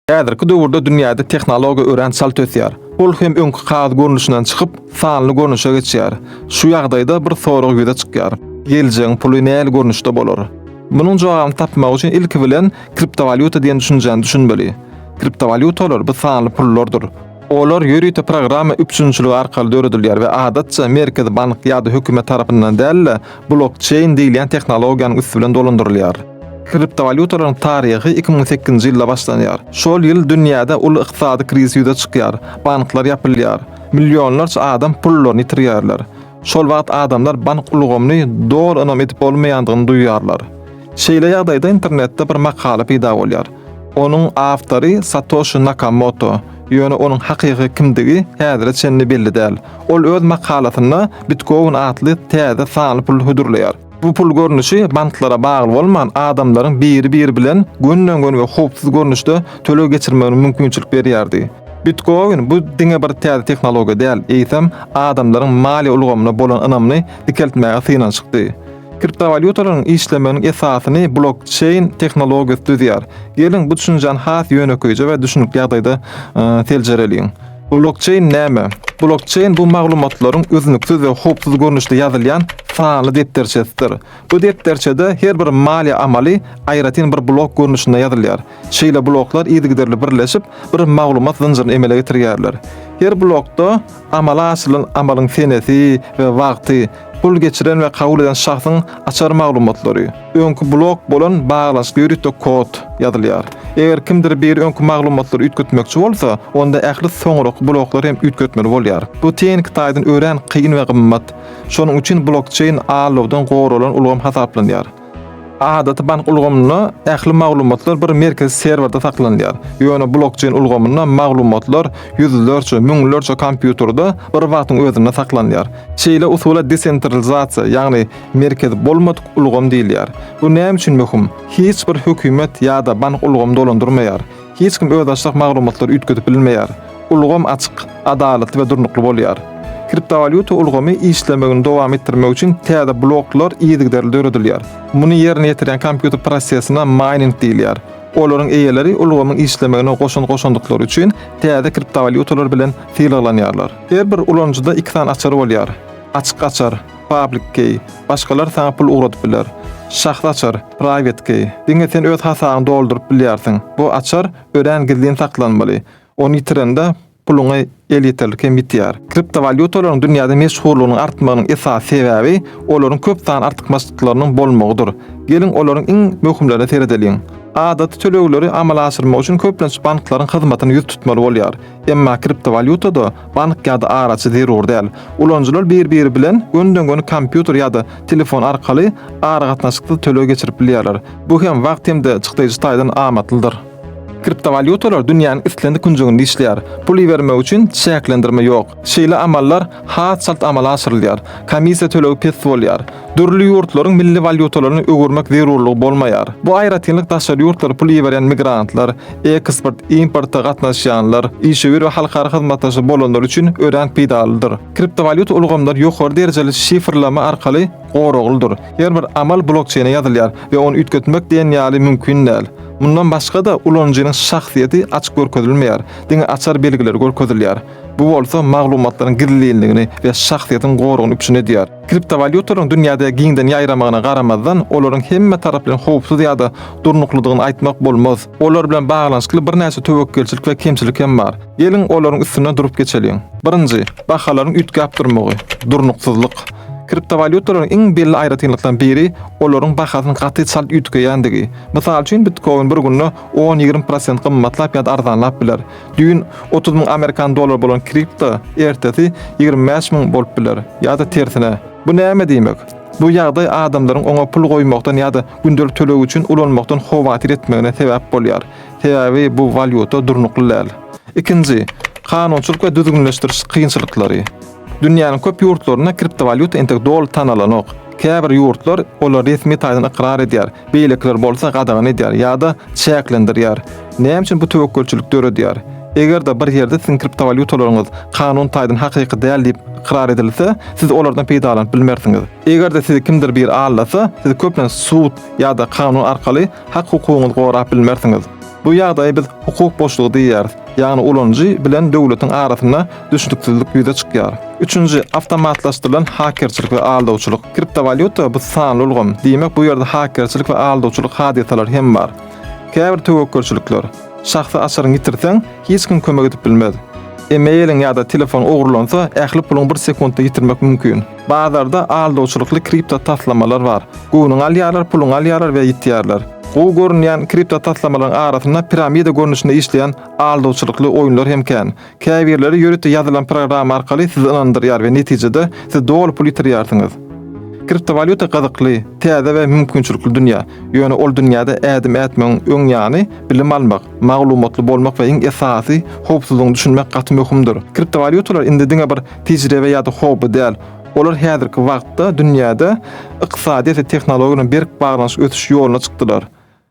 Häzirki döwürde dünýäde tehnologiýa örän çalt ösýär. Ol hem öňki kagaz görnüşinden çykyp, sanly görnüşe geçýär. Şu ýagdaýda bir sorag ýüze çykýar. Geljegiň puly nähili görnüşde bolar? Munuň jogabyny tapmak üçin ilki bilen kriptowalýuta diýen düşünjäni düşünmeli. Kriptowalýutalar bu sanly pullardyr. Olar ýörite programma üpjünçiligi arkaly döredilýär we adatça merkezi bank ýa-da hökümet tarapyndan däl-de, blokçeýn diýilýän tehnologiýanyň üsti bilen dolandyrylýar. Kriptowalýutalaryň taryhy iki müň sekizinji ýylda başlanýar. Şol ýyl dünýäde uly ykdysady krizis ýüze çykýar, banklar ýapylýar, millionlarça adam pullaryny ýitirýärler. Şol wagt adamlar bank ulgamyny doly ynam edip bolmaýandygyny duýýarlar. Şeýle ýagdaýda internetde bir makala peýda bolýar. Onuň awtory Satoşi Nakamoto, ýöne onuň hakyky kimdigi häzire çenli belli däl. Ol öz makalasynda Bitcoin atly täze sanly puly hödürleýär. Bu pul görnüşi banklara bagly bolman, adamlaryň biri-biri bilen gönden-göni we howpsuz görnüşde töleg geçirmegine mümkinçilik berýärdi. Bitkoin bu diňe bir täze tehnologiýa däl, eýsem, adamlaryň maliýe ulgamyna bolan ynamyny dikeltmäge synanyşykdy. Kriptowalýutalaryň işlemeginiň esasyny blokçeýn tehnologiýasy düzýär. Geliň, bu düşünjäni has ýönekeýje we düşünikli ýagdaýda seljereliň. Blokçeýn näme? Blokçeýn bu maglumatlaryň üznüksiz we howpsuz görnüşde ýazylýan sanly depderçesidir. Bu depderçede her bir maliýe amaly aýratyn bir blok görnüşinde ýazylýar. Şeýle bloklar yzygiderli birleşip, bir maglumat zynjyryny emele getirýärler. Her blokda amala aşyrylan amalyň senesi we wagty, Pul geçiren we kabul eden şahsyň açar maglumatlary, öňki blok bolan baglanyşyk ýörite kod, ýazylýar. Eger kimdir biri öňki maglumatlary üýtgetmekçi bolsa, onda ähli soňraky bloklary hem üýtgetmeli bolýar. Bu tehniki taýdan örän kyn we gymmat. Şonuň üçin blokçeýn allowdan goralan ulgam hasaplanýar. Adaty bank ulgamynda ähli maglumatlar bir merkezi serwerde saklanylýar, ýöne blokçeýn ulgamynda maglumatlar ýüzlerçe, müňlerçe kompýuterde bir wagtyň özünde saklanylýar. Şeýle usula desentralizasiýa, ýagny merkezi bolmadyk ulgam diýilýär. Bu näme üçin möhüm? Hiç bir hökümet ýa-da bank ulgamy dolandyrmaýar. Hiç kim özbaşdak maglumatlary üýtgedip bilmeýär. Ulgam açyk, adalatly we durnukly bolýar. Kriptowalýuta ulgamy işlemegini dowam etdirmek üçin täze bloklar yzygiderli döredilýär. Muny ýerine ýetirýän kompýuter prosesine maýning diýilýär. Olaryň eýeleri ulgamyň işlemegine goşant goşandyklary üçin täze kriptowalýutalar bilen sylaglanýarlar. Her bir ulanyjyda iki sany açar bolýar, açyk açar, Public Key, başgalar saňa pul ugradyp biler. Şahsy açar, Private Key, diňe sen öz hasabyňy dolduryp bilýärsiň. Bu açar örän gizlin saklanmaly. Ony ýitirende, puluňy elýeterlik hem ýitýär. Kriptowalýutalaryň dünýäde meşhurlygynyň artmagynyň esasy sebäbi olaryň köp sanly artykmaçlyklarynyň bolmagydyr. Geliň, olaryň iň möhümlerine seredeliň. Adaty tölegleri amala aşyrmak üçin köplenç banklaryň hyzmatyna ýüz tutmaly bolýar. Emma kriptowalýutada Bank ýa-da araçy zerur däl. Ulanyjylar bir-biri bilen gönden-göni kompýuter ýa-da telefon arkaly aragatnaşyksyz töleg geçirip bilýärler. Bu hem wagt hem-de çykdaýjy taýdan amatlydyr. Kriptowalýutalar dünýäniň islendik künjeginde işleýär. Pul ibermek üçin çäklendirme ýok. Şeýle amallar has çalt amala aşyrylýar. Komissiýa tölegi pes bolýar. Dürli ýurtlaryň milli walýutalaryny öwürmek zerurlygy bolmaýar. Bu aýratynlyk daşary ýurtlara pul iberýän migrantlar, eksport, importa gatnaşýanlar, işewür we halkara hyzmatdaşy bolanlar üçin örän peýdalydyr. Kriptowalýuta ulgamlary ýokary derejeli şifrleme arkaly goraglydyr. Her bir amal blokçeýne ýazylýar we ony üýtgetmek diýen ýaly mümkin däl. Mundan başga-da, ulanyjynyň şahsyýeti açyk görkezilmeýär, diňe açar belgileri görkezilýär. Bu bolsa maglumatlaryň gizlinligini we şahsyýetiň goragyny üpjün edýär. Kriptowalýutalaryň dünýäde giňden ýaýramagyna garamazdan, olaryň hemme tarap bilen howpsuz ýa-da durnuklydygyny aýtmak bolmaz. Olar bilen baglanyşykly birnäçe töwekgelçilik we kemçilik hem bar. Geliň, olaryň üstünden durup geçeliň. Birinji, bahalaryň üýtgäp durmagy, durnuksyzlyk. Kriptowalýutalaryň iň belli aýratynlyklarynyň biri olaryň bahasynyň gaty çalt üýtgeýändigi. Mysal üçin, bitkoin bir günde on-ýigrimi prosent gymmatlap ýa-da arzanlap biler. Düýn otuz müň amerikan dollary bolan kripto ertesi ýigrimi bäş müň bolup biler, ýa-da tersine. Bu näme diýmek? Bu ýagdaý adamlaryň oňa pul goýmakdan ýa-da gündelik töleg üçin ulanmakdan howatyr etmegine sebäp bolýar, sebäbi bu walýuta durnukly däl. Ikinji, kanunçylyk we düzgünleşdiriş kynçylyklary. Dünýäniň köp ýurtlarynda kriptowalýuta entek doly tanalanok. Käbir ýurtlar olary resmi taýdan ykrar edýär, beýlekiler bolsa gadagan edýär ýa-da çäklendirýär. Näme üçin bu töwekgelçilik döredýär? Eger-de bir ýerde siziň kriptowalýutalaryňyz kanun taýdan hakyky däl diýip ykrar edilse, siz olardan peýdalanyp bilmersiňiz. Eger-de sizi kimdir biri aldasa, siz köplenç sud ýa-da kanun arkaly hak-hukugyňyzy gorap bilmersiňiz. Bu ýagdaýa biz hukuk boşlugy diýýäris, ýagny ulanyjy bilen döwletiň arasynda düşnüksizlik ýüze çykýar. Üçünji, awtomatlaşdyrylan hakerçilik we aldawçylyk. Kriptowalýuta bu sanly ulgam, diýmek bu ýerde hakerçilik we aldawçylyk hadysalary hem bar. Käbir töwekgelçilikler. Şahsy açaryňy ýitirseň, hiç kim kömek edip bilmez. E-mailiň ýa-da telefon ogurlansa, ähli puluňy bir sekuntda ýitirmek mümkin. Bazarda aldawçylykly kripto taslamalar bar. Göwnüňi alýarlar, puluňy alýarlar we ýitýärler. Gowy görünýän kripto taslamalaryň arasynda piramida görnüşinde işleýän aldawçylykly oýunlar hem kän. Käbirleri ýörite ýazylan programma arkaly sizi ynandyrýar we netijede siz doly pul ýitirýärsiňiz. Kriptowalýuta gyzykly, täze we mümkinçilikli dünýä, ýöne ol dünýäde ädim ätmegiň öň ýany, bilim almak, maglumatly bolmak we iň esasy, howpsuzlygyňy düşünmek gaty möhümdir. Kriptowalýutalar indi diňe bir tejribe ýa-da hobby däl, olar häzirki wagtda dünýäde ykdysadyýet we tehnologiýa bilen berk baglanyşyk ösüş ýoluna çykdylar.